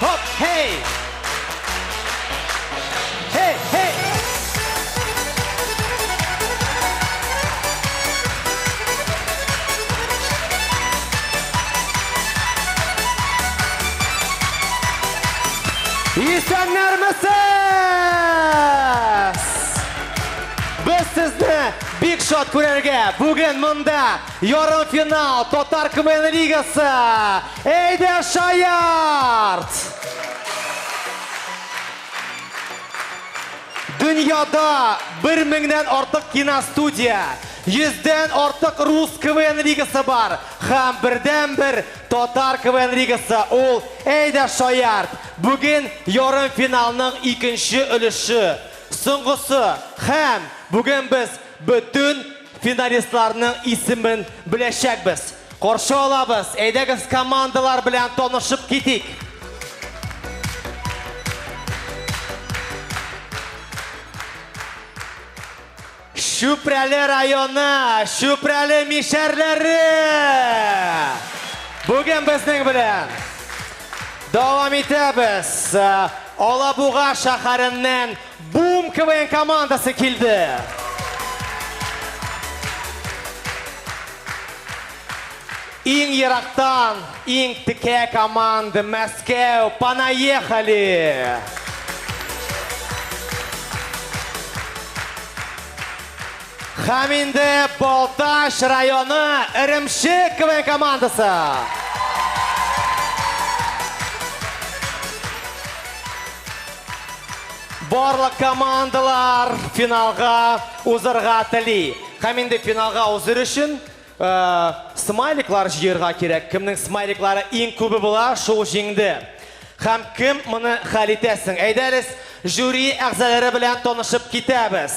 Хоп, хей! Хей, хей! Исәннәр Без сезне бик шат күрергә, бүген монда Ярымфинал Татар КВН лигасы! Әйдә шаярт! Дөньяда бер меңнән артык киностудия, йөздән артык рус КВН лигасы бар һәм бердәнбер Татар КВН лигасы ул Әйдә шаярт! Бүген ярымфиналның икенче өлеше, соңгысы һәм бүген без бөтен Финалистларның исемен беләчәкбез. Каршы алабыз, әйдәгез командалар белән танышып китик. Чүпрәле районы, Чүпрәле мишәрләре! Бүген безнең белән дәвам итәбез. Алабуга шәһәреннән Бум КВН командасы килде! Иң ерактан, иң текә команда, Мәскәү, понаехали! Һәм инде Балтач районы Эремчек КВН командасы! Барлык командалар финалга узырга тели. Һәм инде финалга узыр өчен э, смайликлар җыерга кирәк. Кемнең смайликлары иң күбе була, шул җиңде. Һәм кем моны хәл итәсең? Әйдәгез, жюри әгъзалары белән танышып китәбез.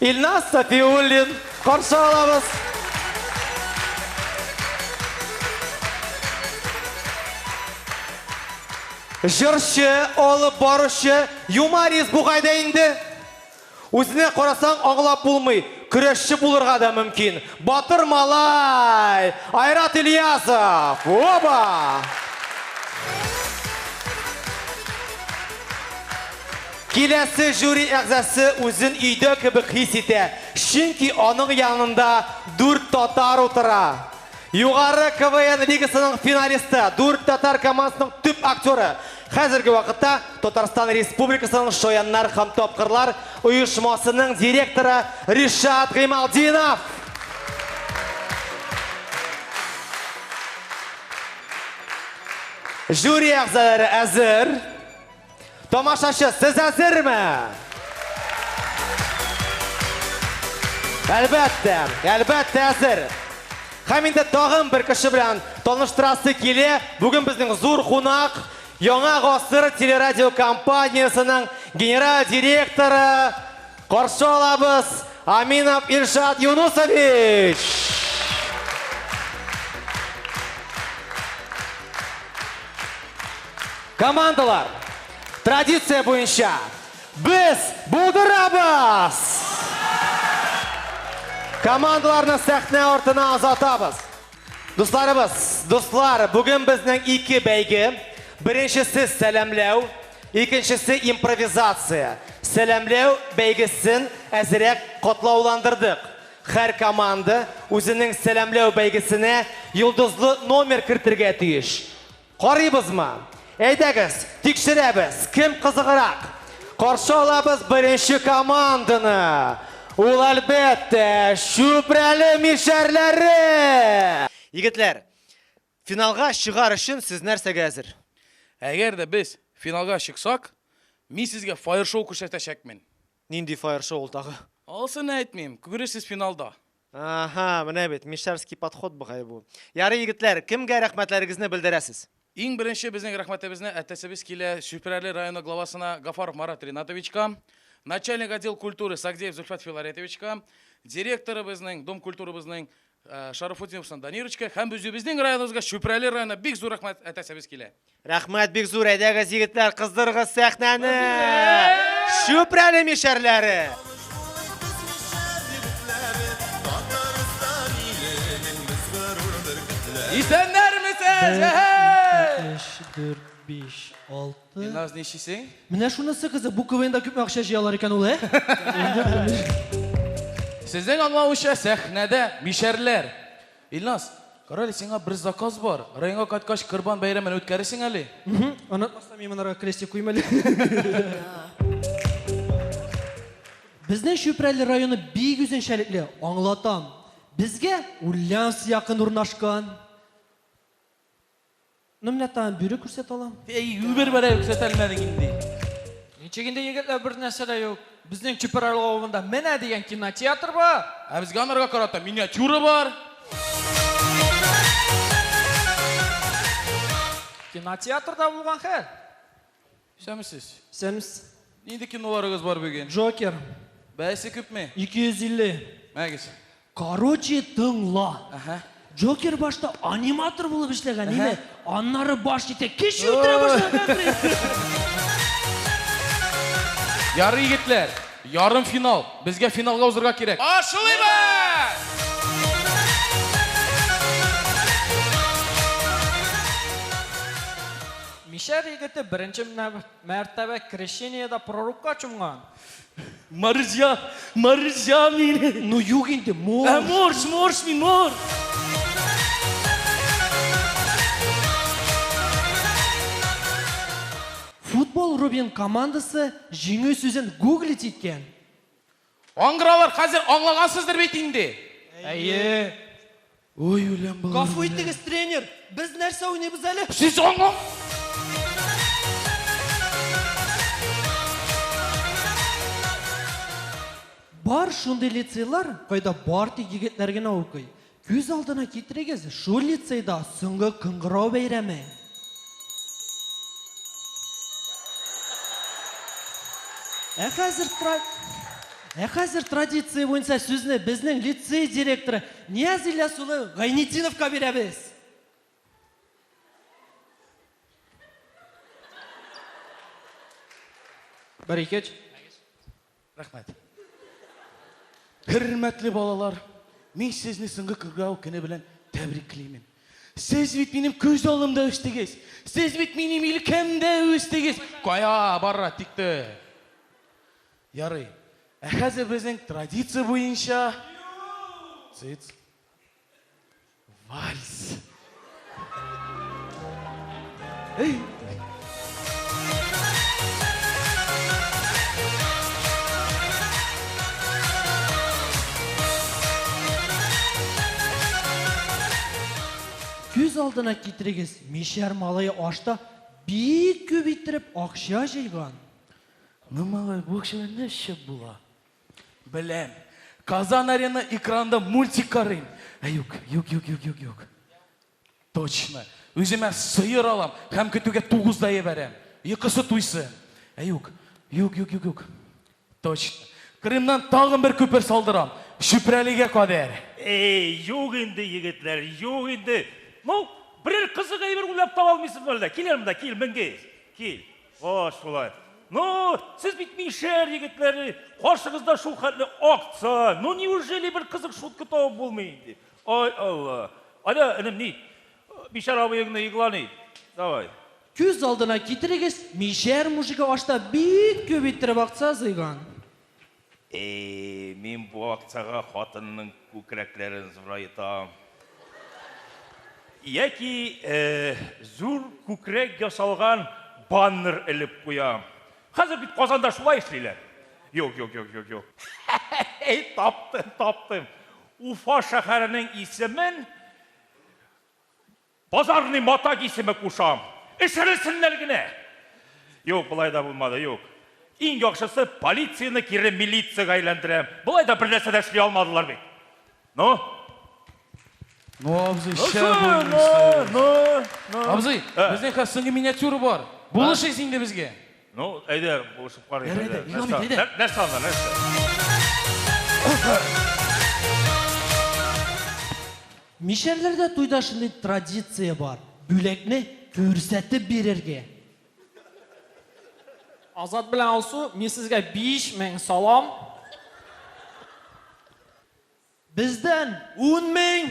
Илназ Сафиуллин, каршы алабыз! Җырчы, алып баручы, юморист бугай да инде. Үзенә карасаң, аңлап булмый, көрәшче булырга да мөмкин. Батыр малай! Айрат Ильясов! Оба! Киләсе жюри әгъзасы үзен өйдә кебек хис итә, чөнки аның янында дүрт татар утыра. Югары КВН лигасының финалисты, Дүрт татар командасының төп актеры, хәзерге вакытта Татарстан Республикасының Шаяннар һәм тапкырлар оешмасының директоры Ришат Гыймалтдинов! Жюри әгъзалары әзер. Тамашачы, сез әзерме? Әлбәттә, әлбәттә әзер. Һәм инде тагын бер кеше белән таныштырасы килә. Бүген безнең зур кунак Яңа гасыр телерадиокомпаниясенең генераль директоры Каршы алабыз, Аминов Илшат Юнусович! Командалар, традиция буенча, без булдырабыз! Командаларны сәхнә артына озатабыз. Дусларыбыз, дуслар, бүген безнең ике бәйге. Беренчесе сәламләү. Икенчесе импровизация, сәламләү бәйгесен әзерәк катлауландырдык. Һәр команда үзенең сәламләү бәйгесенә йолдызлы номер кертергә тиеш. Карыйбызмы? Әйдәгез, тикшерәбез, кем кызыграк. Каршы алабыз беренче команданы. Ул, әлбәттә, Чүпрәле мишәрләре! Егетләр, Финалга чыгар өчен сез нәрсәгә әзер? Әгәр дә без финалга чыксак, мин сезгә фаер-шоу күрсәтәчәкмен. Нинди фаер-шоу ул тагы? Алсын әйтмим, күрерсез финалда. Аһа, менә бит, мишәрский подход бугай бу. Ярый, егетләр, кемгә рәхмәтләрегезне белдерәсез? Иң беренче безнең рәхмәтебезне әтәсебез килә Чүпрәле районы главасына Гафаров Марат Ринатовичка, начальник отдел культуры Сагдеев Зөлфәт Филаретовичка, директорыбызның, дом культурабызның Э, Шарафутдиновсына Данирочка һәм үзебезнең районыбызга Чүпрәле районына бик зур рәхмәт әтәсебез килә. Рәхмәт бик зур әйдәгез егетләр, кыздырыгыз сәхнәне. Чүпрәле мишәрләре. Исәннәрмесез! Әһә! 4 5 6 Илназ, ничисең? Менә шунысы кызык, бу КВНда күпме акча җыялар икән ул, ә? Сезнең аңлавыча сәхнәдә мишәрләр. Илназ, карале, сиңа бер заказ бар. Районга кайткач Корбан бәйрәмен үткәресең әле. Онытмасам, мин монарга крестик куйм әле. Безнең Чүпрәле районы бик үзенчәлекле, аңлатам. Безгә Ульяновск якын урнашкан. Ну, менә тагын бюры күрсәтә алам. Әй, үбер бәрә күрсәтә алмадың инде. Ничек инде егетләр бер нәрсә дә юк. Безнең Чүпер авылында менә дигән кинотеатр бар. Ә безгә анарга карата миниатюра бар. Кинотеатрда булган хәл. Исәнмесез. Исәнмес. Нинди киноларыгыз бар бүген? Джокер. Бәясе күпме? 250. Мәгез. Короче, тыңла. Әһә. Джокер башта аниматор булып эшләгән, име? Аннары баш итә, кеше үтерә башлаган. Ярый, егетләр, ярым финал. Безгә финалга узырга кирәк. Башлыйбыз! Мишәр егете беренче мәртәбә крещениедә пророкка чумган. Марҗа, марҗа мин. Ну юк инде, морж. Ә морж, морж мин, морж. Футбол Рубин командасы җиңү сүзен гуглить иткән. Аңгыралар, хәзер аңлагансыздыр бит инде? Әйе. Ой, үләм балалар. Гафу итегез, тренер, без нәрсә уйныйбыз әле? Сез аңлам... Бар шундый лицейлар, кайда бар тик егетләр генә укый. Күз алдына китерегез, шул лицейда соңгы кыңгырау бәйрәме. Ә хәзер Ә хәзер традиция буенча сүзне безнең лицей директоры Нияз Ильяс улы Гайнетдиновка бирәбез. Бер икеч. Рәхмәт. Хөрмәтле балалар, мин сезне соңгы күргәү көне белән тәбриклимен. Сез бит минем күз алдымда үстегез. Сез бит минем илкәмдә үстегез. Кая бара тикте. Ярый. Ә хәзер безнең традиция буенча Цыц. Вальс. Эй! Күз алдына китерегез, мишәр малае ашта бик күп иттереп акча җыйган. Ну, малай, бу акчалар нәрсә була? Беләм. Казан Арена экранда мультик карыйм. Ә юк, юк, юк, юк, юк, юк. Точно. Үземә сыер алам һәм көтүгә тугыз да ебәрәм. Йокысы туйсы. Ә юк, юк, юк, юк, юк. Точно. Крымнан тагын бер күпер салдырам. Чүпрәлегә кадәр. Эй, юк инде, егетләр, юк инде. Ну, берәр кызык әйбер уйлап таба алмыйсызмы әллә? Кил әле монда, кил, менгез. Кил. Кош шулай. Ну, сез бит мишәр егетләре, каршыгызда шул хәтле акция. Ну, неужели бер кызык шутка табып булмый инде? Ай Алла. Аня, энем, ни? Мишәр абыеңны игълан ит. Давай. Күз алдына китерегез, мишәр мужигы ашта бик күп иттереп акция җыйган. Әй, мин бу акцияга хатынның күкрәкләрен зурайтам. Яки зур күкрәк ясалган баннер элеп куям. Хәзер бит Казанда шулай эшлиләр. Юк, юк, юк, юк, юк. Әй, таптым, таптым. Уфа шәһәренең исемен Базарный матак исеме кушам. Эчерелсеннәр генә! Юк, болай да булмады, юк. Иң яхшысы, полицияне кире милицияга әйләндерәм. Болай да бернәрсә дә эшли алмадылар бит. Ну? Ну, абзый, Ну, шә шу, ну, булмыйсыз. ну, ну. Абзый, Ә. безнең хәзер соңгы миниатюра бар. Булышыйс инде безгә. Ну, әйдә, булышып карыйк. Ярый әле, ник алмыйк, әйдә. Нәрсә анда, нәрсә? Мишәрләрдә туйда шундый традиция бар. Бүләкне күрсәтеп бирергә. Азат белән Алсу, мин сезгә 5000 салам. Бездән 10000.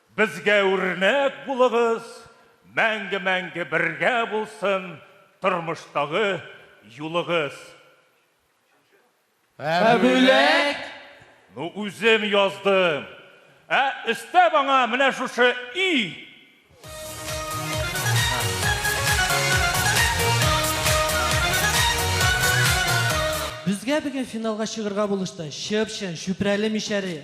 Безгә үрнәк булыгыз, мәңге-мәңге бергә булсын тормыштагы юлыгыз. Ә бүләк? Ну үзем яздым. Ә өстәп аңа менә шушы и. Безгә бүген финалга чыгырга булышты Чып-чын, Чүпрәле мишәре.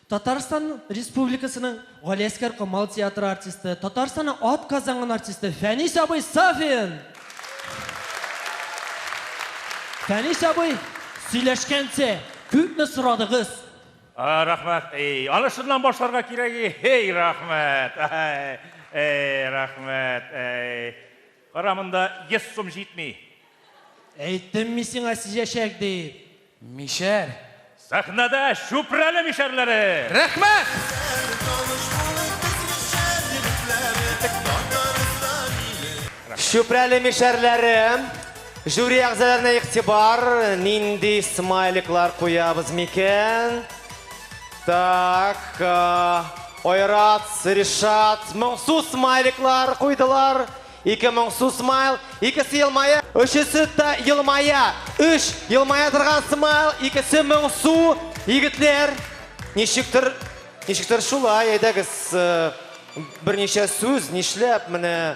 Татарстан Республикасының Галиәскәр Камал театры артисты, Татарстанның ат казанган артисты Фәнис абый Сафин! Фәнис абый, сөйләшкәнче, күпме сорадыгыз? Рәхмәт. Эй, аны шуннан башларга кирәк. Эй, рәхмәт. Эй, рәхмәт. Эй. Кара, монда йөз сум җитми. Әйттем мин сиңа сизәчәк дип. Мишәр. Сәхнәдә Чүпрәле мишәрләре! Рәхмәт! Чүпрәле мишәрләре, жюри әгъзаларына игътибар, нинди смайликлар куябыз микән? Так, Айрат, Ришат, моңсу смайликлар куйдылар. Ике моңсу смайл, икесе елмая. Өчесе дә елмая. Өч елмая торган смайл, икесе моңсу. Егетләр, ничектер, ничектер шулай, әйдәгез, э, берничә сүз, нишләп, менә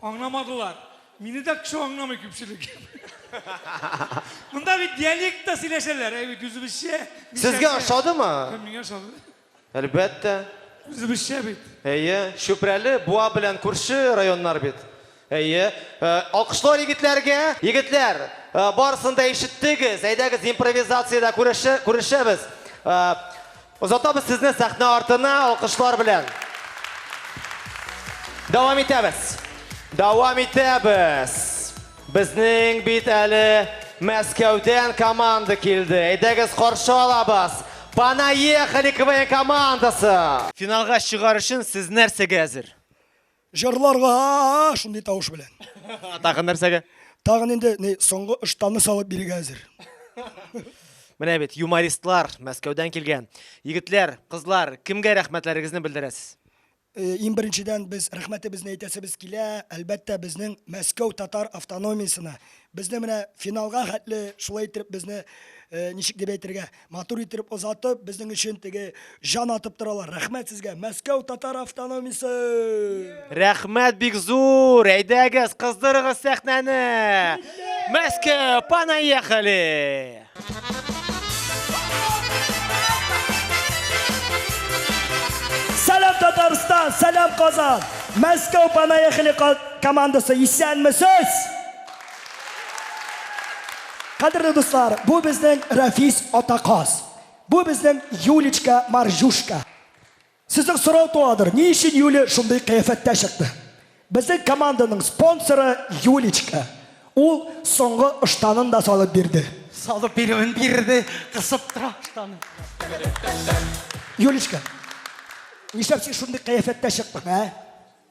Аңламадылар. Мине дә кеше аңламый күпчелек. Монда бит диалектта сөйләшәләр, әй бит үзебезчә. Сезгә ошадымы? Миңа ошады. Әлбәттә. Үзебезчә бит. Әйе, Чүпрәле, Буа белән күрше районнар бит. Әйе. Э, алкышлар егетләргә. Егетләр, э, барысын да ишеттегез. Әйдәгез, импровизациядә күрешә, күрешәбез. Э, Озатабыз сезне сәхнә артына алкышлар белән. Дәвам итәбез. Дәвам итәбез. Безнең бит әле Мәскәүдән команда килде. Әйдәгез каршы алабыз. Понаехали КВН командасы! Финалга чыгар өчен сез нәрсәгә әзер? Җырларга шундый тавыш белән. Тагын нәрсәгә? Тагын инде ни соңгы ыштанны салып бирергә әзер. Менә бит юмористлар Мәскәүдән килгән. Егетләр, кызлар, кемгә рәхмәтләрегезне белдерәсез? Э, Иң беренчедән без рәхмәтебезне әйтәсебез килә, әлбәттә, безнең Мәскәү татар автономиясенә. Безне менә финалга хәтле шулай итеп безне э, ничек дип әйтергә, Матур иттереп озатып, безнең өчен теге җан атып торалар. Рәхмәт сезгә, Мәскәү татар автономиясе! Рәхмәт бик зур! Әйдәгез, кыздырыгыз сәхнәне! Мәскәү, понаехали! Сәлам Татарстан, сәлам Казан! Мәскәү, понаехали командасы, исәнмесез! Кадерле дуслар, бу безнең Рафис Атаказ. Бу безнең Юлечка Маржушка. Сезнең сорау туадыр, ни өчен Юля шундый кыяфәттә чыкты? Безнең команданың спонсоры Юлечка. Ул соңгы ыштанын да салып бирде. Салып бирүен бирде, кысып тора ыштаны. Юлечка, нишләп син шундый кыяфәттә чыктың, ә?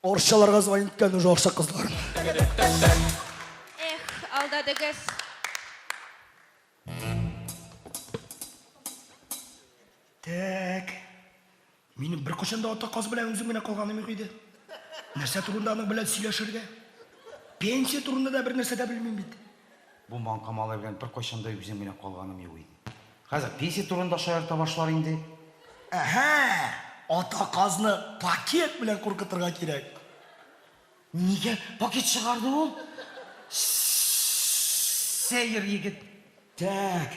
Арчаларга звонить иткән уже арча кызларын. Эх, алдадыгыз. Тәк. Минем бер кочында ата каз белән үзем генә калганым юк иде. Нәрсә турында аның белән сөйләшергә? Пенсия турында да бер нәрсә дә белмим бит. Бу маңка малай белән беркайчан да үзем генә калганым юк иде. Хәзер пенсия турында шаярта башлар инде. Әһә! Ата казны пакет белән куркытырга кирәк. Нигә пакет чыгарды ул? Сәер егет. Тәк.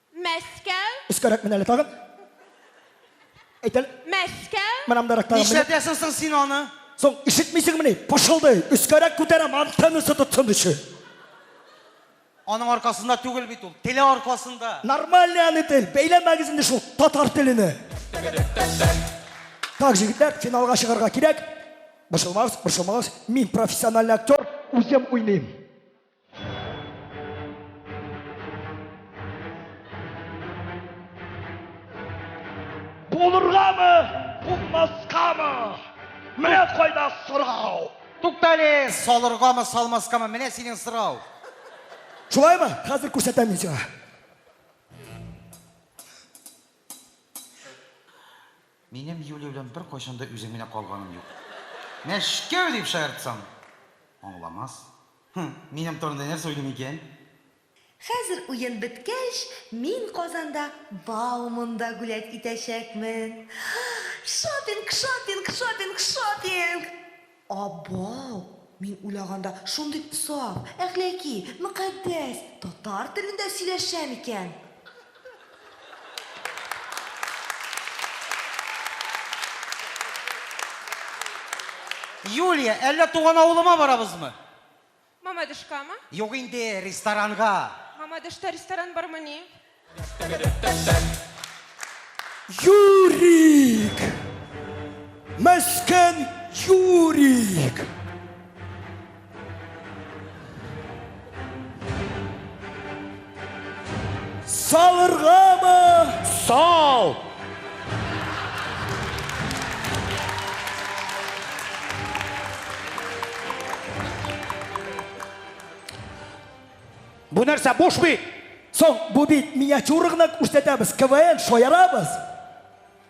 Мәскәү. Өскәрәк мен әле тагын. Әйт әле. Мәскәү. Менә мондарак тагын. Нишләтәсең соң син аны? Соң ишетмисеңмени? Пышылдый. Өскәрәк күтәрәм, антеннасы тотсын өчен. Аның аркасында түгел бит ул. Теле аркасында. Нормальный аны тел. Бәйләмәгез инде шул татар телене. Так, җегетләр, финалга чыгарга кирәк. Борчылмагыз, борчылмагыз. Мин профессиональный актер, үзем уйныйм. Булыргамы, булмаскамы? Менә кайда сорау. Туктале, салыргамы, салмаскамы? Менә синең сорау. Шулаймы? Хәзер күрсәтәм мин сиңа. Минем Юлия белән бер кайчан да үзем генә калганым юк. Мәшкәү дип шаяртсам, аңламас. Һм, минем турында нәрсә уйлый микән? Хәзер уен беткәч, мин Казанда Бауманда гулять итәчәкмен. Шопинг, шопинг, шопинг, шопинг! Абау! Мин уйлаганда шундый саф, әхләки, мөкатдәс татар телендә сөйләшә микән? Юлия, әллә туган авылыма барабызмы? Мамадышкамы? Юк инде, ресторанга. Мамадышта ресторан бармы ни? Юрик! Мәскән Юрик! Салыргамы? Сал! Бу нәрсә буш бит? Соң бу бит миниатюра гына күрсәтәбез, КВН шаярабыз.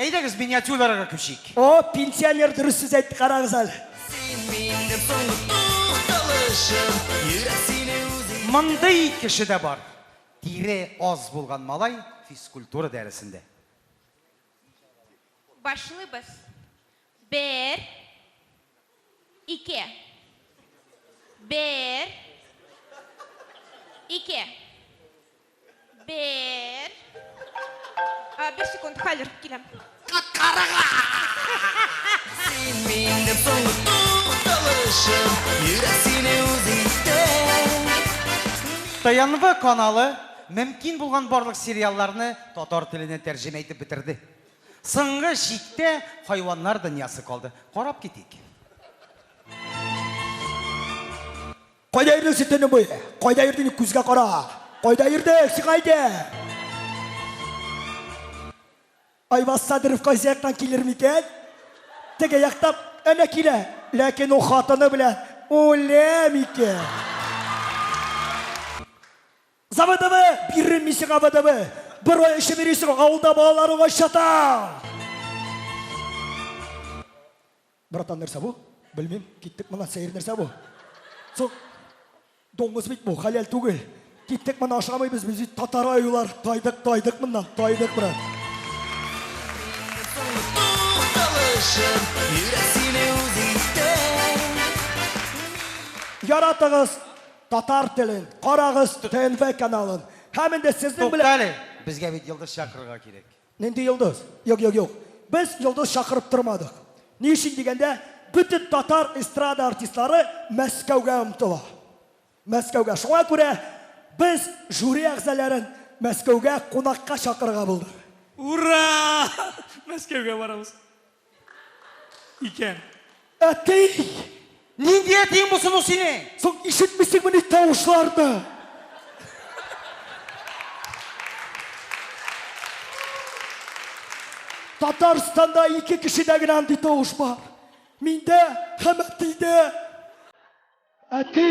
Әйдәгез миниатюраларга күчик. О, пенсионер дөрес сүз әйтте, карагыз әле. Син минем соңгы тукталышым, йөрәк сине үзе. Мондый кеше дә бар. Тире аз булган малай физкультура дәресендә. Башлыйбыз. Бер. Ике. Бер. Ике. Бер. А, бер секунд, хәзер киләм. Карага! Син минем соңгы тукталышым, йөрәк сине үз итә. ТНВ каналы мөмкин булган барлык сериалларны татар теленә тәрҗемә итеп бетерде. Соңгы чиктә хайваннар дөньясы калды. Карап китик. Кайда йөрде син төне буе? Кайда йөрде ник күзгә кара? Кайда йөрде сиңа әйдә? Айваз Садыров кайсы яктан килер микән? Теге яктан әнә килә. Ләкин ул хатыны белән үлә микән? Заводовы, биррем мин сиңа водовы, бер ай эчеп йөрисең, авылда балалар уңай чатал! Братан, нәрсә бу? Белмим, киттек моннан, сәер нәрсә бу? Соң, доңгыз бит бу, хәләл түгел. Киттек моннан, ашамыйбыз, без бит татар аюлар, тайдык, тайдык моннан, тайдык, брат. Яратыгыз, Татар телен карагыз ТНВ каналын. Һәм инде сезнең белән Тукта әле. Безгә бит йолдыз чакырырга кирәк. Нинди йолдыз? Юк, юк, юк. Без йолдыз чакырып тормадык. Ни өчен дигәндә, бөтен татар эстрада артистлары Мәскәүгә омтыла. Мәскәүгә. Шуңа күрә без жюри әгъзаләрен Мәскәүгә кунакка чакырырга булдык. Ура! Мәскәүгә барабыз. Икән. Әти! Нинди әтиең булсын ул синең? Соң ишетмисеңмени тавышларны? Татарстанда ике кешедә генә андый тавыш бар. Миндә һәм әтидә. Әти!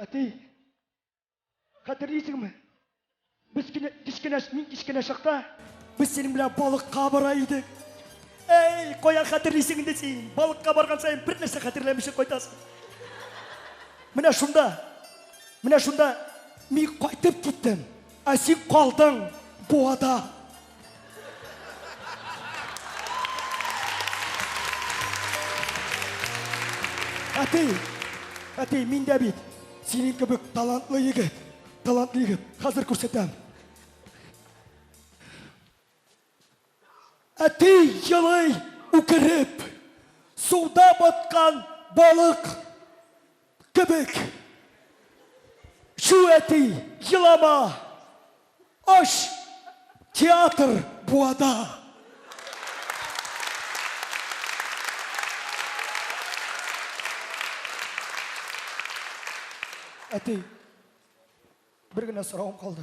Әти, хәтерлисеңме? Без кенә кечкенә мин кечкенә чакта без синең белән балыкка бара идек. Әй, кая хәтерлисең инде син? Балыкка барган саен бер нәрсә хәтерләмичә кайтасың. Менә шунда. Менә шунда мин кайтып киттем. Ә син калдың буада. Әти, әти, мин дә бит синең кебек талантлы егет, талантлы егет. Хәзер күрсәтәм. Әти елый үкереп, суда баткан балык Кебек. Чү, әти, елама! Ач театр буада! Әти, бер генә соравым калды.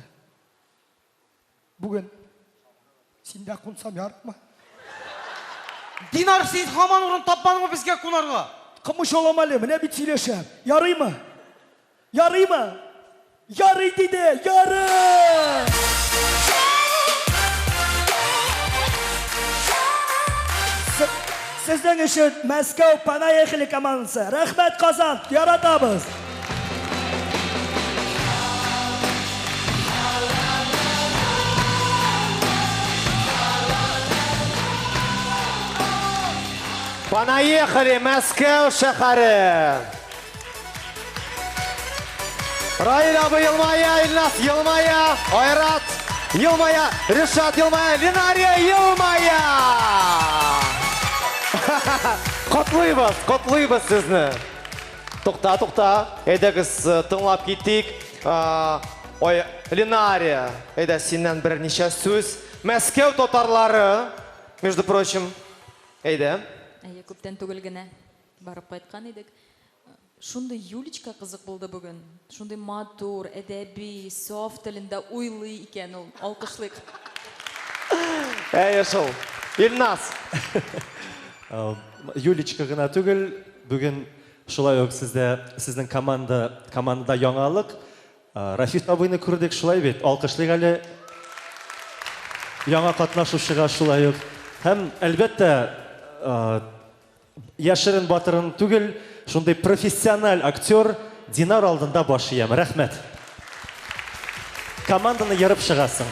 Бүген син дә кунсам ярыймы? Динар, син һаман урын тапмадыңмы безгә кунарга? Кымычалам әле, менә бит сөйләшәм. Ярыймы? Ярыймы? Ярый диде, ярый! Сезнең өчен Мәскәү Понаехали командасы! Рәхмәт, Казан! Яратабыз! Понаехали, Мәскәү шәһәре! Раил абый елмая, Илнас елмая, Айрат елмая, Ришат елмая, Линария елмая! Котлыйбыз, котлыйбыз сезне! Тукта, тукта, әйдәгез э, тыңлап китик. А, Ой, Ленария, әйдә синнән берничә сүз. Мәскәү татарлары, между прочим, әйдә. Әйе, күптән түгел генә барып кайткан идек. Шундый Юлечка кызык булды бүген. Шундый матур, әдәби, саф телендә уйлый икән ул. Алкышлыйк. Әйе шул. Ильназ! Юлечка гына түгел, бүген шулай ук сездә, сезнең команда, командада яңалык. Рафис абыйны күрдек, шулай бит? Алкышлыйк әле яңа катнашучыга шулай ук. Һәм, әлбәттә, Яшерен батырын түгел, шундый профессиональ актер Динар алдында баш иям. Рәхмәт. Команданы ерып чыгасың.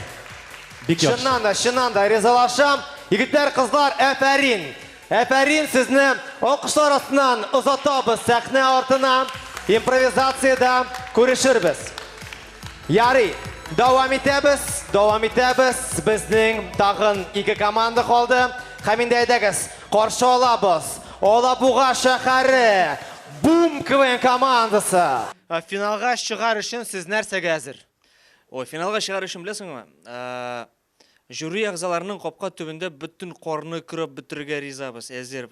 Бик яхшы. Чыннан да, чыннан да ризалашам. Егетләр, кызлар, әфәрин! Әфәрин, сезне алкышлар астыннан озатабыз сәхнә артына. Импровизациядә күрешербез. Ярый, дәвам итәбез, дәвам итәбез. Безнең тагын ике команда калды. Һәм инде әйдәгез, Каршы алабыз, Алабуга шәһәре Бум КВН командасы! Финалга чыгар өчен сез нәрсәгә әзер? Ой, финалга чыгар өчен беләсеңме? Жюри әгъзаларының капка төбендә бөтен карны көрәп бетерергә ризабыз, әзер,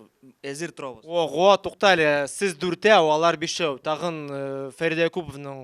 әзер торабыз. Ого, тукта әле, сез дүртәү, алар бишәү, тагын Фәридә Якуповның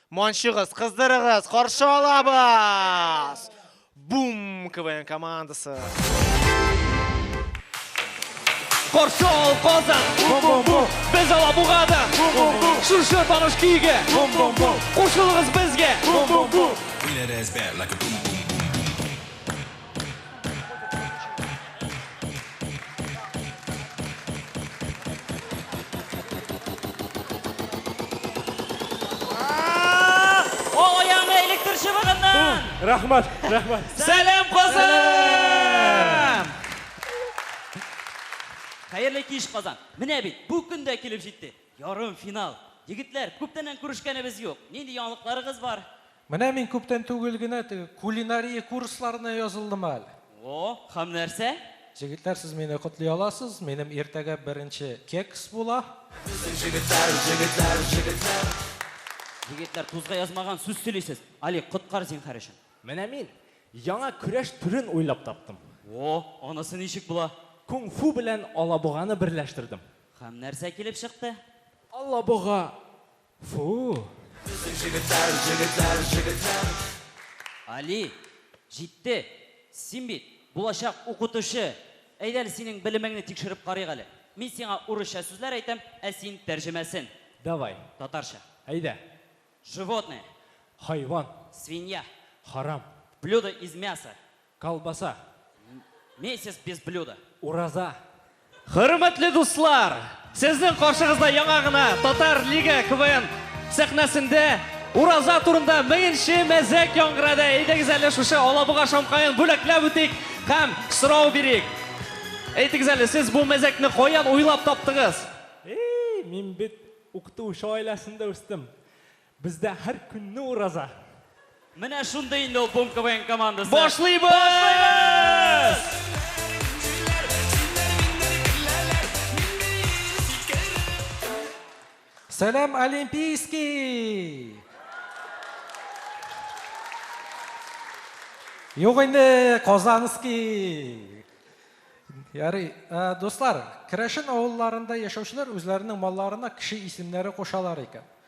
Манчыгыз, кыздырыгыз, каршы алабыз! Бум! КВН командасы. Каршы ал Казан! Бум-бум-бум! Без Алабугада! Бум-бум-бум! Шушы таныш көйгә! Бум-бум-бум! Кушылыгыз безгә! Бум-бум-бум! Биләр әзбәр, like a boom boom. Рахмат, рахмат. Сәлем Казан! Хәерле киш Казан. Менә бит, бу көн дә килеп җитте. Ярым финал. Егетләр, күптәннән күрешкәнебез юк. Нинди яңалыкларыгыз бар? Менә мин күптән түгел генә теге кулинария курсларына язылдым әле. О, һәм нәрсә? Җегетләр, сез мине котлый аласыз, минем иртәгә беренче кекс була. Безнең җегетләр, җегетләр, җегетләр. Егетләр, тузга язмаган сүз сөйлисез. Али, коткар зинһар өчен. Менә мин яңа көрәш төрен уйлап таптым. О, анысы ничек була? Кунг-фу белән алабуганы берләштердем. Һәм нәрсә килеп чыкты? Алабуга Фу! Али, җитте! Син бит, булачак укытучы! Әйдә әле синең белемеңне тикшереп карыйк әле. Мин сиңа урысча сүзләр әйтәм, ә син тәрҗемәсен. Давай. Татарча. Әйдә. Животное. Хайван. Свинья. Харам. Блюдо из мяса. Колбаса. Месяц без блюда. Ураза. Хөрмәтле дуслар, сезнең каршыгызда яңа гына Татар Лига КВН сәхнәсендә Ураза турында меңенче мәзәк яңгырады. Әйдәгез әле шушы Алабуга шамкаен бүләкләп үтик һәм сорау бирик. Әйтегез әле, сез бу мәзәкне каян уйлап таптыгыз? Эй, мин бит укытучы гаиләсендә үстем. Бездә һәр көнне ураза. Менә шундый инде ул Бум КВН командасы. Башлыйбыз! Сәлам, Олимпийский! Юк инде, Казанский! Ярый, дуслар, керәшен авылларында яшәүчеләр үзләренең малларына кеше исемнәре кушалар икән.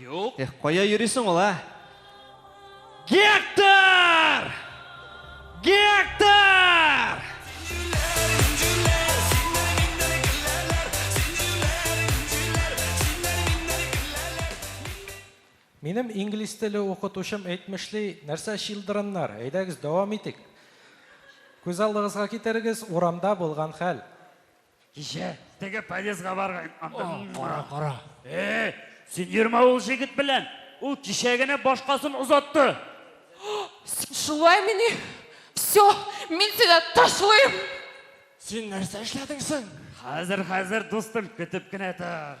Юк. Эх, кая йөрисең ул, а? Гектор! Гектор! Минем инглиз теле укытучым әйтмешли, нәрсә чилдырыннар, әйдәгез дәвам итик. Күз алдыгызга китерегез, урамда булган хәл. Кичә теге подъездга барган андым. Кара, кара. Э, син йөрмә ул җегет белән. Ул кичә генә башкасын озатты. Син шулай мени? Все, мин сине ташлыйм. Син нәрсә эшләдең соң? Хәзер, хәзер, дустым, көтеп кенә тор.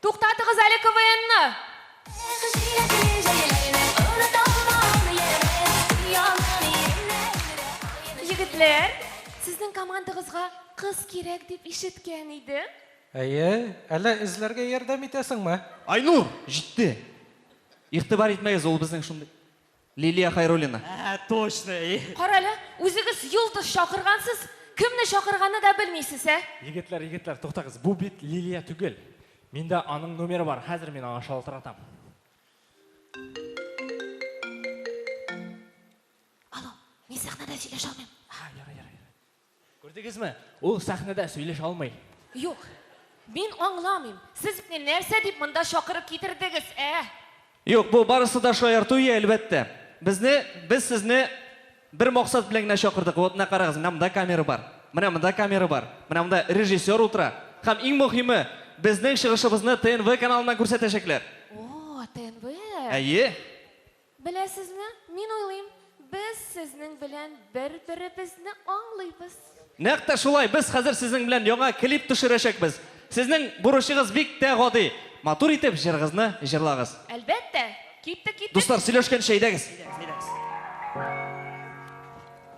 Туктатыгыз әле КВНны! Егетләр, сезнең командагызга кыз кирәк дип ишеткән иде. Әйе, әллә эзләргә ярдәм итәсеңме? Айнур, җитте! Игътибар итмәгез, ул безнең шундый. Лилия Хайруллина. Әһә, точно, и. Карале, үзегез йолдыз чакыргансыз, кемне чакырганны да белмисез, ә? Егетләр, егетләр, туктагыз, бу бит Лилия түгел. Миндә аның номеры бар, хәзер мин аңа шалтыратам. Алло, мин сәхнәдә сөйләшә алмыйм. Һа, ярый, ярый. Күрдегезме, ул сәхнәдә сөйләшә алмый. Юк, мин аңламыйм, сез мине нәрсә дип монда чакырып китердегез, ә? Юк, бу барысы да шаярту и, әлбәттә. Безне, без сезне бер максат белән генә чакырдык. Вот, менә карагыз, менә монда камера бар, менә монда камера бар, менә монда режиссер утыра. Һәм иң мөһиме, безнең чыгышыбызны ТНВ каналыннан күрсәтәчәкләр. О, ТНВ! Әйе. Беләсезме, мин уйлыйм, без сезнең белән бер-беребезне аңлыйбыз. Нәкъ тә шулай, без хәзер сезнең белән яңа клип төшерәчәкбез. Сезнең бурычыгыз бик тә гади, матур итеп җырыгызны җырлагыз. Әлбәттә, киттек, киттек! Дуслар, сөйләшкәнче әйдәгез.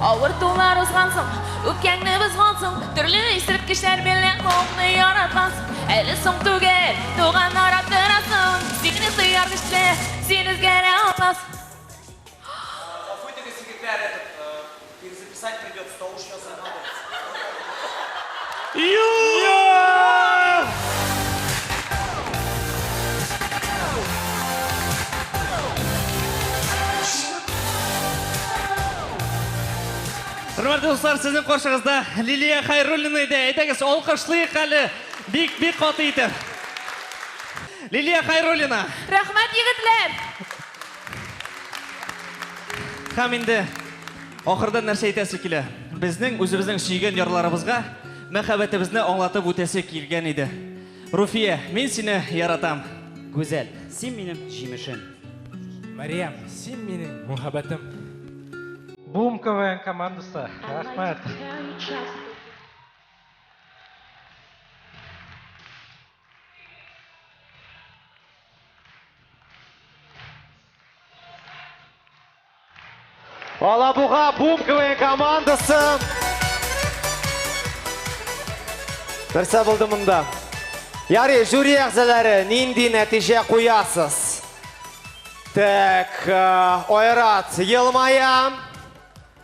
Авыр тулар узган соң, үпкәңне бозган соң, төрле исерткечләр белән халыкны яраткансың. Әле соң түгел, туган арап торасың, бик нык тояр төсле, син үзгәрә алмассың. Гафу итегез, егетләр, этот, э, перезаписать придется, тавыш язылмады. Хөрмәтле дуслар, сезнең каршыгызда Лилия Хайруллина иде. Әйдәгез, алкышлыйк әле. Бик бик каты итеп. Лилия Хайруллина. Рәхмәт, егетләр! Һәм инде ахырдан нәрсә әйтәсе килә? Безнең үзебезнең сөйгән ярларыбызга мәхәббәтебезне аңлатып үтәсе килгән иде. Руфия, мин сине яратам. Гүзәл, син минем җимешем. Мариям, син минем мөхәббәтем. Бум КВН командасы, рәхмәт. Алабуга Бум КВН командасы. Нәрсә булды монда? Ярый, жюри әгъзалары, нинди нәтиҗә куясыз? Так, э, Айрат елмая.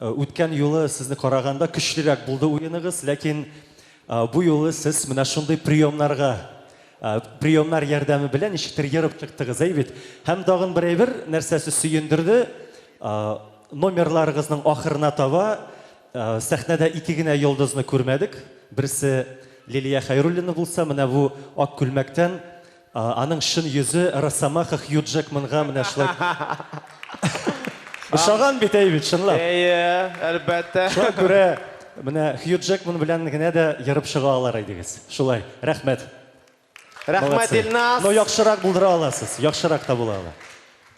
Үткән юлы сезне караганда көчлерәк булды уеныгыз, ләкин бу юлы сез менә шундый приемнарга, приемнар ярдәме белән ничектер ерып чыктыгыз, әй бит? Һәм тагын бер әйбер, нәрсәсе сөендерде, номерларыгызның ахырына таба сәхнәдә ике генә йолдызны күрмәдек. Берсе Лилия Хәйруллина булса, менә бу ак күлмәктән Аның чын йөзе Росомаха Хью Джекманга менә шулай ошаган бит, әй бит, чынлап. Әйе, әлбәттә. Шуңа күрә менә Хью Джекман белән генә дә ерып чыга алар идегез. Шулай. Рәхмәт. Рәхмәт, Илназ. Но яхшырак булдыра аласыз. Яхшырак та була ала.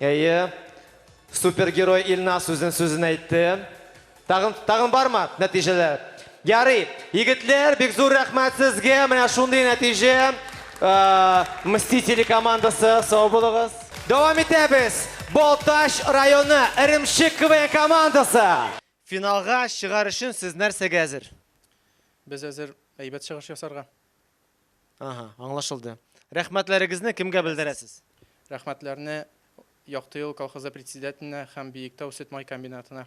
Әйе. Супергерой Илназ үзен сүзен әйтте. Тагын тагын бармы нәтиҗәләр? Ярый, егетләр, бик зур рәхмәт сезгә, менә шундый нәтиҗә. Мстители командасы, сау булыгыз. Дәвам итәбез, Балтач районы Эремчек КВН командасы. Финалга чыгар өчен сез нәрсәгә әзер? Без әзер әйбәт чыгыш ясарга. Аһа, аңлашылды. Рәхмәтләрегезне кемгә белдерәсез? Рәхмәтләрне Яктыюл колхозы председателенә һәм Биектау сөт-май комбинатына.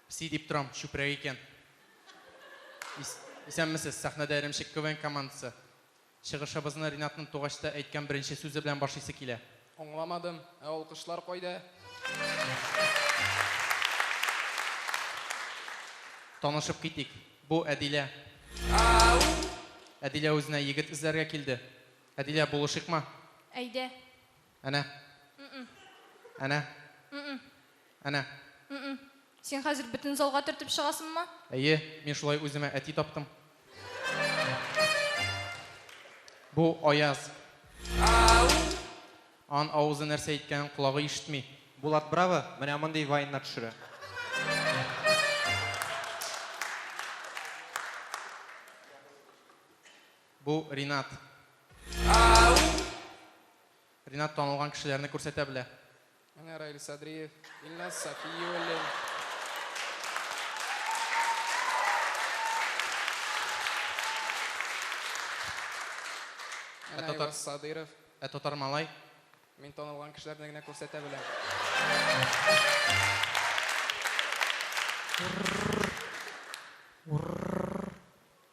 Пси дип торам, чүпрәк икән. Исәнмесез, сәхнәдә Эремчек КВН командасы. Чыгышыбызны Ринатның тугачта әйткән беренче сүзе белән башлыйсы килә. Аңламадым, ә алкышлар кайда? Танышып китик, бу Әдилә. Әдилә үзенә егет эзләргә килде. Әдилә, булышыйкмы? Әйдә. Әнә. М-м. Әнә. М-м. Әнә. М-м. Син хәзер бөтен залга төртеп чыгасыңмы? Әйе, мин шулай үземә әти таптым. Бу Аяз. Ан авызы нәрсә әйткәнен колагы ишетми. Булат браво, менә мондый вайннар төшерә. Бу Ринат. Ринат танылган кешеләрне күрсәтә белә. Менә Раил Садриев, Илназ Сафиуллин. Ә татар Садыров. Ә татар малай? Мин танылган кешеләрне генә күрсәтә беләм. Урр. Урр.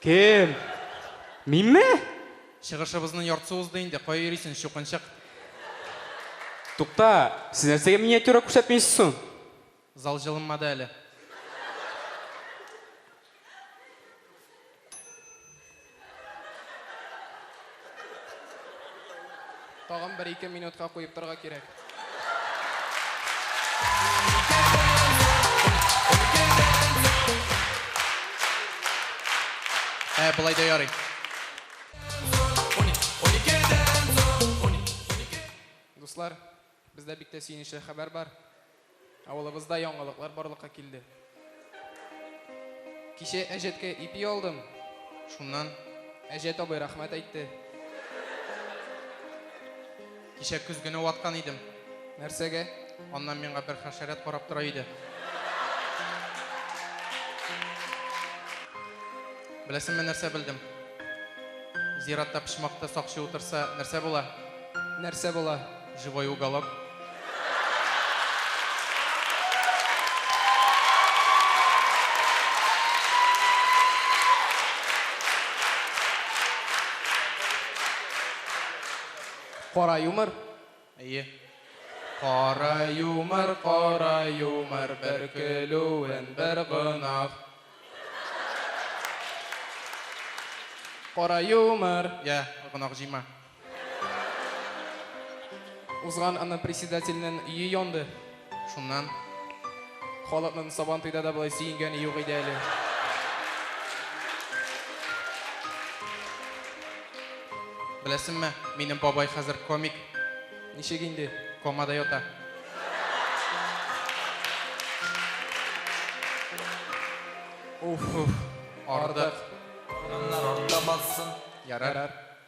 Кем? Минме? Чыгышыбызның яртысы узды инде, кая йөрисен, чукынчык? Тукта, сез нәрсәгә миниатюра күрсәтмисез соң? Зал җылынмады әле. Тагын бер-ике минутка куеп торырга кирәк. Ә, болай да ярый. Дуслар, бездә бик тә сөенечле хәбәр бар. Авылыбызда яңалыклар барлыкка килде. Кичә әҗәткә ипи алдым, шуннан әҗәт абый рәхмәт әйтте. Кичә көзгене ваткан идем. Нәрсәгә? Аннан миңа бер хәшәрәт карап тора иде. Беләсеңме, нәрсә белдем? Зиратта почмакта сакчы утырса, нәрсә була? Нәрсә була? Живой уголок. Кара юмор. Әйе. Кара юмор, кара юмор, бер көлүен, бер гынах. Кара юмор. Я, гынах җыйма. Узган аны председательнен өе янды. Шуннан халыкның Сабантуйда да болай сөенгәне юк иде әле. Беләсеңме, минем бабай хәзер комик. Ничек инде? Комада ята. Уф, ардык. Аннар артта бассын. Ярар.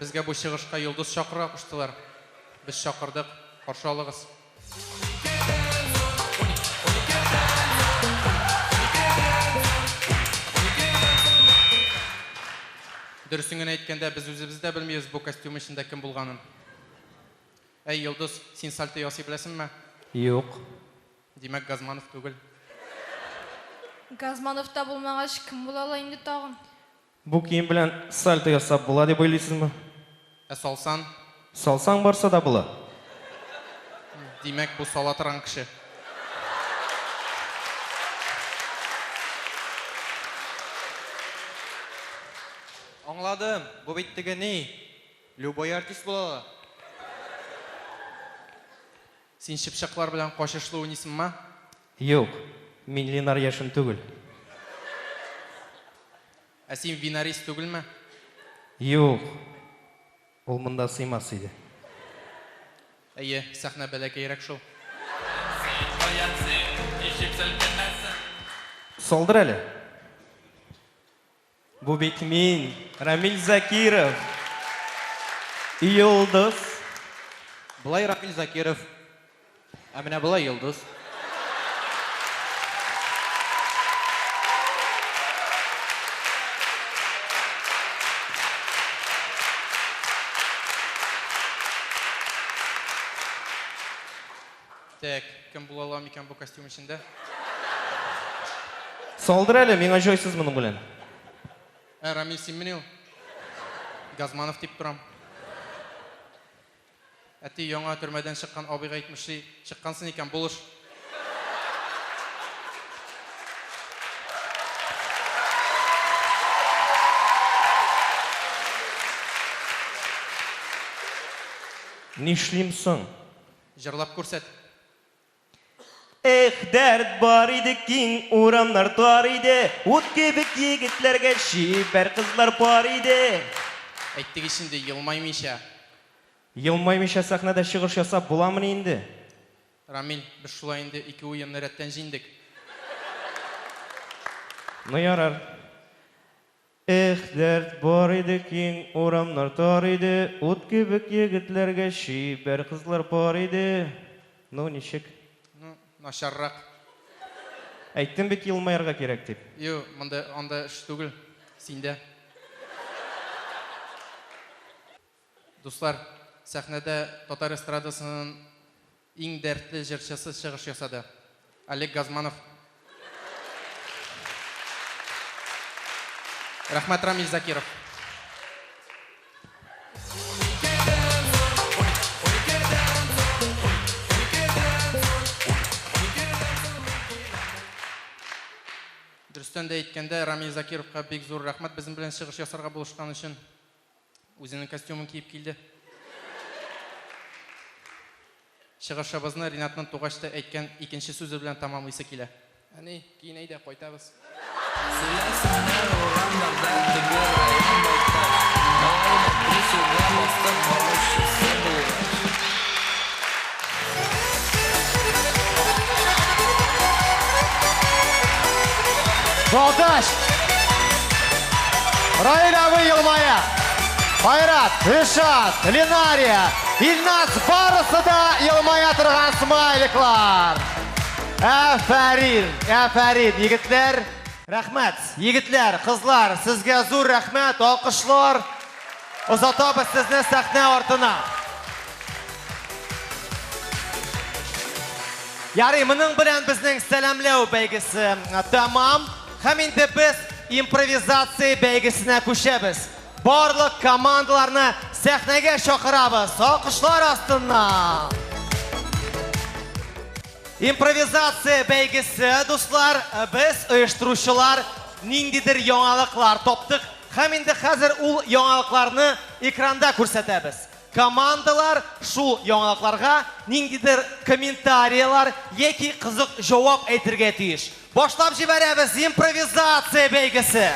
Безгә бу чыгышка Йолдыз чакыра куштылар. Без чакырдык, каршы алыгыз. Дөресен генә әйткәндә, без үзебез дә белмибез бу костюм эчендә кем булганын. Әй, Йолдыз, син сальто ясый беләсеңме? Юк. Димәк, Газманов түгел. Газманов та булмагач, кем була ала инде тагын? Бу кием белән сальто ясап була дип уйлыйсызмы? Ә салсан? Салсаң барса да була. Димәк, бу сала торган кеше. Аңладым, бу бит теге ни, любой артист була ала. Син чыпчаклар белән качышлы уйныйсыңмы? Юк, мин Ленар Яшин түгел. Ә син Винарис түгелме? Юк, ул монда сыймас иде. Әйе, сәхнә бәләкәерәк шул. Салдыр әле. Бу бит мин, Рамил Закиров! Йолдыз! Болай Рамил Закиров, ә менә болай Йолдыз. Тәк, кем була ала микән бу костюм эчендә? Салдыр әле, миңа җайсыз моның белән. Ә, Рамил, синмени ул? Газманов дип торам. Әти, яңа төрмәдән чыккан абыйга әйтмешли, чыккансын икән, булыш. Нишлим соң? Җырлап күрсәт. Эх, дәрт бар иде, киң урамнар тар иде, Ут кебек егетләргә чибәр кызлар пар иде. Әйттек ич инде, елмаймыйча. Елмаймыйча сәхнәдә чыгыш ясап буламыни инде? Рамил, без шулай инде ике уенны рәттән җиңдек. Ну ярар. Эх, дәрт бар иде, киң урамнар тар иде, ут кебек егетләргә чибәр кызлар пар иде. Ну, ничек? Ну, начаррак. Әйттем бит елмаярга кирәк дип. Юк, монда анда эш түгел, синдә. Дуслар, сәхнәдә татар эстрадасынын иң дәртле җырчысы чыгыш ясады. Олег Газманов. Рәхмәт Рамил Закиров. Дөрестән дә әйткәндә, Рамил Закировка бик зур рәхмәт безнең белән чыгыш ясарга булышкан өчен. Үзенең костюмын киеп килде. Чыгышыбызны Ринатның тугач та әйткән икенче сүзе белән тәмамлыйсы килә. Әни, киен әйдә, кайтабыз. Сөйләсеннәр урамнарда теге район байтак, алай да три сүзгә бастык баручысы булгач. Балташ! Раиль абый елмая. Айрат, Ришат, Ленария, Ильнас барысы да елмая торган смайликлар. Әфәрин, әфәрин, егетләр. Рәхмәт, егетләр, кызлар, сезгә зур рәхмәт, алкышлар. Озатабыз сезне сәхнә артына. Ярый, моның белән безнең сәламләү бәйгесе тәмам. Һәм инде без импровизация бәйгесенә күчәбез. Барлык командаларны сәхнәгә чакырабыз. Алкышлар астыннан. Импровизация бәйгесе, дуслар, без оештыручылар ниндидер яңалыклар таптык. Һәм инде хәзер ул яңалыкларны экранда күрсәтәбез. Командалар шул яңалыкларга ниндидер комментарияләр яки кызык җавап әйтергә тиеш. Башлап җибәрәбез импровизация бәйгесе!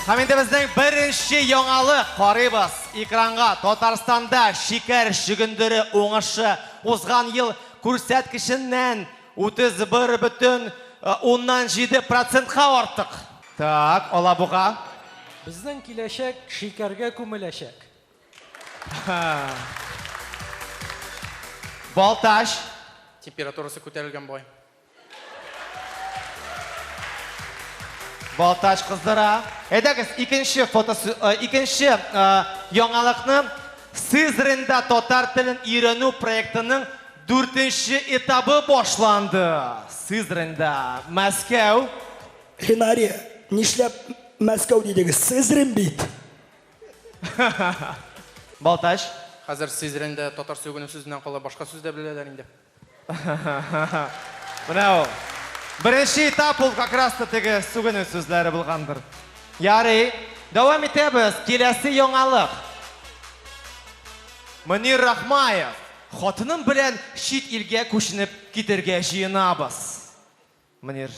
Һәм инде безнең беренче яңалык, карыйбыз экранга, Татарстанда шикәр чөгендере уңышы узган ел күрсәткеченнән 31,7 процентка артык. Так, Алабуга. Безнең киләчәк шикәргә күмеләчәк. Балтач. Температурасы күтәрелгән бугай. Балтач кыздыра. Әйдәгез, икенче фотосу, икенче яңалыкны. Сызрында татар телен өйрәнү проектының дүртенче этабы башланды. Сызрында, Мәскәү. Хинария, нишләп Мәскәү дидегез? Сызрин бит! Балтач. Хәзер Сызрында татар сүгенү сүзеннән кала башка сүз дә беләләр инде. Менә ул. Беренче этап ул как раз та теге сүгенү сүзләре булгандыр. Ярый, дәвам итәбез. Киләсе яңалык. Мөнир Рахмаев, Хатыным белән чит илгә күченеп китәргә җыенабыз. Мөнир.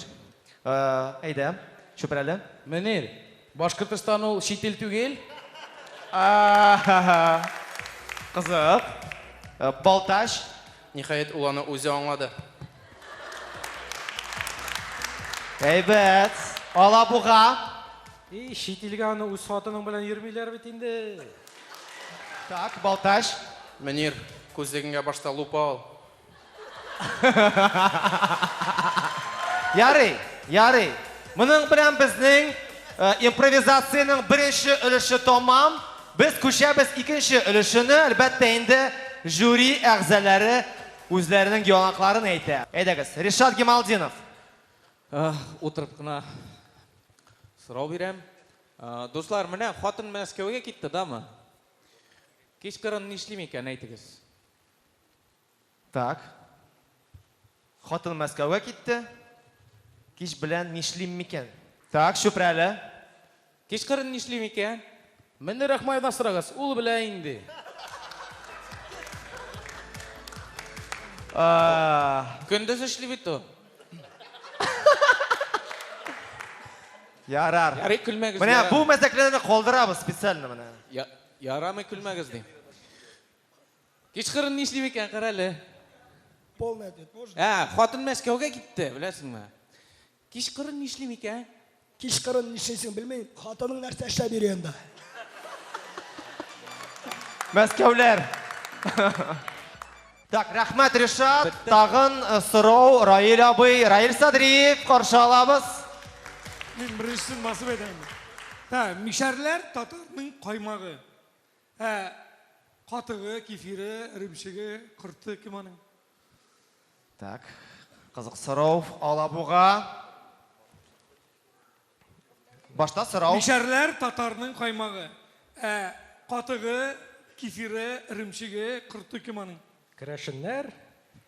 Әйдә, Чүпрәле. Мөнир. Башкортостан ул чит ил түгел. Кызык. Балтач. Ниһаять, ул аны үзе аңлады. Әйбәт. Алабуга. И, чит илгә аны үз хатының белән йөрмиләр бит инде. Так, Балтач. Мөнир, күзлегеңә башта лупа ал. Ярый, ярый. Моның белән безнең э, импровизациянең беренче өлеше тәмам. Без күчәбез икенче өлешенә. Әлбәттә инде жюри әгъзалары үзләренең яңакларын әйтә. Әйдәгез, Ришат Гемалдинов. Э, утырып кына сорау бирәм. Э, дуслар, менә хатын Мәскәүгә китте, дамы? Кичкырын нишлим икән, әйтегез. Так. Хатын Мәскәүгә китте. Кич белән нишлим микән? Так, Чүпрәле. Кичкырын нишли микән? Менне Рахмаевдан сорагыз, ул белә инде. Көндез эшли бит ул. Ярар. Ярый, көлмәгез. Менә бу мәзәкләрне калдырабыз специально менә. Ярамый, көлмәгез, дим. Кичкырын нишли микән, карале. Полный ответ можно? Ә, хатын Мәскәүгә китте, беләсеңме? Кичкырын нишли микән? Кичкырын нишлисең белмим, хатының нәрсә эшләп йөри анда? Мәскәүләр. Так, рәхмәт, Ришат. Тагын э, сорау Раил абый. Раил Садриев, каршы алабыз. Мин беренчесен басып әйтәм. Та, мишәрләр татарның каймагы. Ә катыгы, кефире, эремчеге, корты кем аның? Так, кызык сорау, Алабуга. Башта сорау. Мишәрләр татарның каймагы. Ә катыгы, кефире, эремчеге, корты кем аның? Керәшеннәр,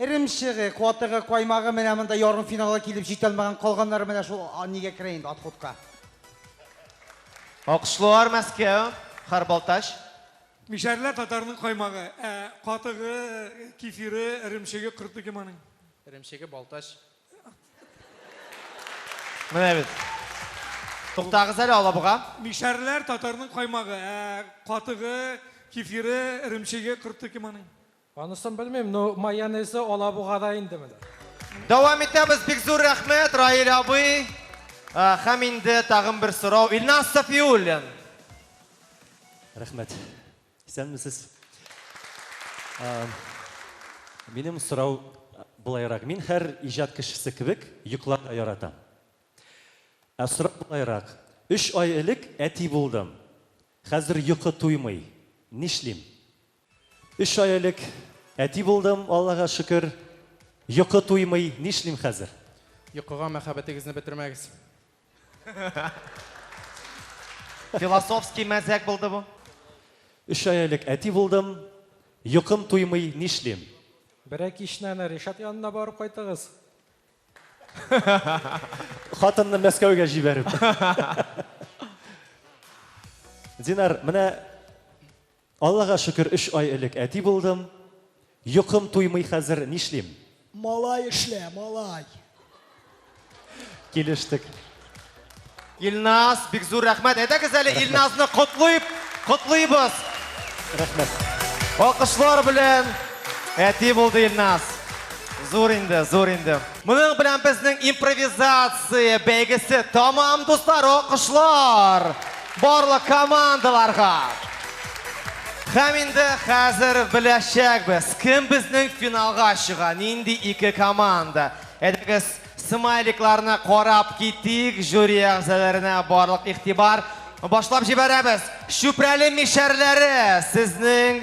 Эремчеге, катыгы, каймагы менә монда ярымфиналга килеп җитә алмаган, калганнары менә шул нигә керә инде отходка. Алкышлоар Мәскәү, Хар Балтач. Мишәрлә татарның каймагы, ә катыгы, кефире, эремчеге, корты кем аның? Эремчеге Балтач. Менә бит. Туктагыз әле, Алабуга. Мишәрләр татарның каймагы, ә катыгы, кефире, эремчеге, корты кем аның? Анысын белмим, но майонезы алабугада инде менә. Дәвам итәбез, бик зур рәхмәт, Раиль абый. Һәм инде тагын бер сорау, Илназ Сафиуллин. Рәхмәт. Исәнмесез. Минем сорау болайрак. Мин һәр иҗат кешесе кебек йокларга яратам. Ә сорау болайрак. Өч ай элек әти булдым. Хәзер йокы туймый. Нишлим? Өч ай элек әти булдым, Аллага шөкер. Йокы туймый, нишлим хәзер? Йокыга мәхәббәтегезне бетермәгез. Философский мәзәк булды бу. Өч ай элек әти булдым, Йокым туймый, нишлим? Берәр кичне әнә Ришат янына барып кайтыгыз. Хатынны Мәскәүгә җибәреп. Динар, менә Аллага шөкер өч ай элек әти булдым. Йокым туймый хәзер, нишлим? Малай эшлә, малай. Килештек. Илназ, бик зур рәхмәт. Әйдәгез әле Илназны котлыйб, котлыйбыз. Рәхмәт. Алкышлар белән әти булды Илназ. Зур инде, зур инде. Моның белән безнең импровизация бәйгесе тәмам, дуслар! Алкышлар барлык командаларга! Һәм инде хәзер беләчәкбез, кем безнең финалга чыга, нинди ике команда. Әйдәгез, смайликларны карап китик, жюри әгъзаларына барлык игътибар. Башлап җибәрәбез! Чүпрәле мишәрләре сезнең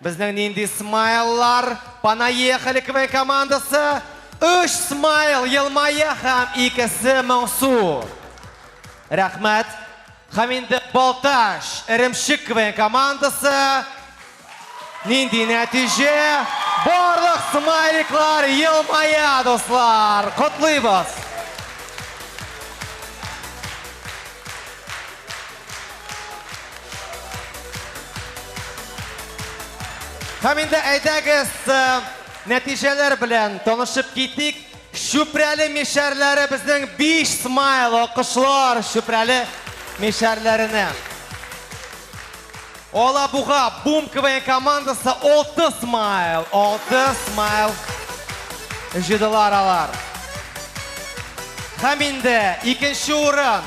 Безнең нинди смайллар? Понаехали КВН командасы! Өч смайл елмая һәм икесе моңсу. Рәхмәт. Һәм инде Балтач, Эремчек КВН командасы. Нинди нәтиҗә? Барлык смайликлар елмая, дуслар! Котлыйбыз! Һәм инде әйдәгез э, нәтиҗәләр белән танышып китик. Шүпрәле мишәрләре безнең 5 смайл акышлар Шүпрәле мишәрләренә. Алабуга Бум КВН командасы 6 смайл, 6 смайл җыдылар алар. Һәм инде икенче урын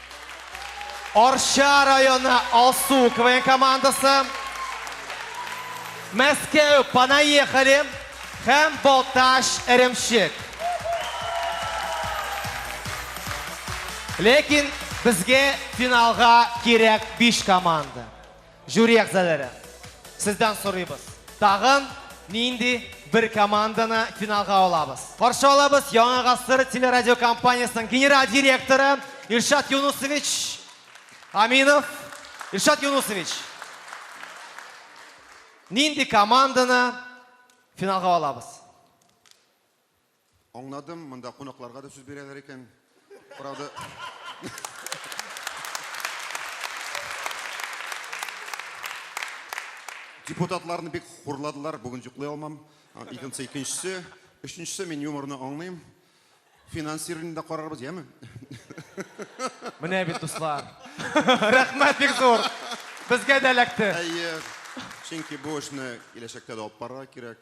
Арча районы Алсу КВН командасы, Мәскәү Понаехали һәм Балтач Эремчек. Ләкин безгә финалга кирәк биш команда. Жюри әгъзаләре, сездән сорыйбыз, тагын нинди бер команданы финалга алабыз? Каршы алабыз Яңа гасыр телерадиокомпаниясенең генераль директоры Илшат Юнусович Аминов. Илшат Юнусович, нинди команданы финалга алабыз? Аңладым, монда кунакларга да сүз бирәләр икән. Правда. Депутатларны бик хурладылар, бүген җоклый алмам. Икенче, икенчесе, өченчесе мин юморны аңлыйм. Финансированиене дә карарбыз, яме? Менә бит, дуслар. Рәхмәт бик зур. Безгә дә эләкте. Әйе. Чөнки бу эшне киләчәктә дә алып барырга кирәк.